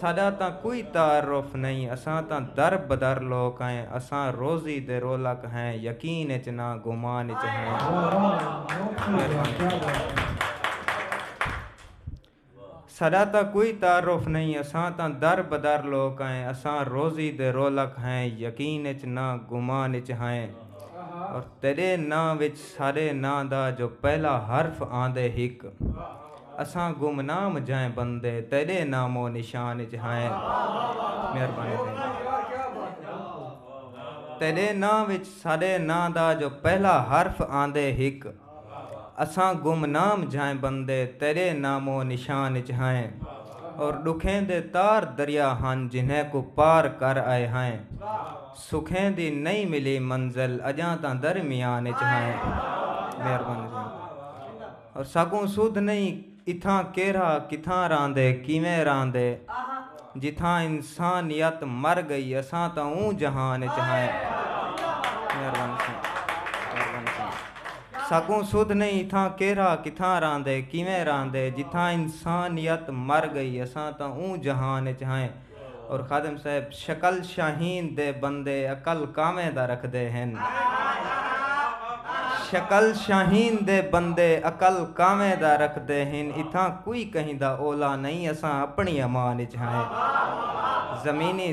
ساݙا تاں کوئی تعارف نئیں اساں تاں در بدر لوک ہیں اساں روزی دے رولک ہیں یقین اچ نہ گمان اچ ہیں ساݙا تاں کوئی تعارف نئیں اساں تاں در بدر لوک ہیں اساں روزی دے رولک ہیں یقین اچ نہ گمان اچ ہیں اور تیرے ناں وچ ساݙے ناں دا جو پہلا حرف آندے ہک اساں گمنام جائیں بندے تیڈے نام و نشان اچ ہائیں مہربانی تھیندی تیڈے ناں وچ ساڈے ناں دا جو پہلا حرف آندے ہک اساں گمنام جائیں بندے تیڈے نام و نشان اچ ہائیں اور ڈکھیں دے تار دریا ہن جنہیں کوں پار کر آئے ہائیں سکھیں دی نئیں ملی منزل اجاں تاں درمیان اچ ہائیں مہربانی تھیندی۔ ساکوں سدھ نئیں اتھاں کیرھا کتھاں راہندے کیویں راہندے جتھاں انسانیت مر گئی اساں تاں اوں جہان اچ ہائیں ساکوں سدھ نئیں اتھاں کیرھا کتھاں راہندے کیویں راہندے جتھاں انسانیت مر گئی اساں تاں اوں جہان اچ ہائیں اور خادم صاحب شکل شاہین دے بندے عقل کانویں دا رکھدے ہن شکل شاہین دے بندے عقل کانویں دا رکھدے ہن اتھاں کوئی کہیں دا اولا نئیں اساں اپنی امان اچ ہائیں زمینی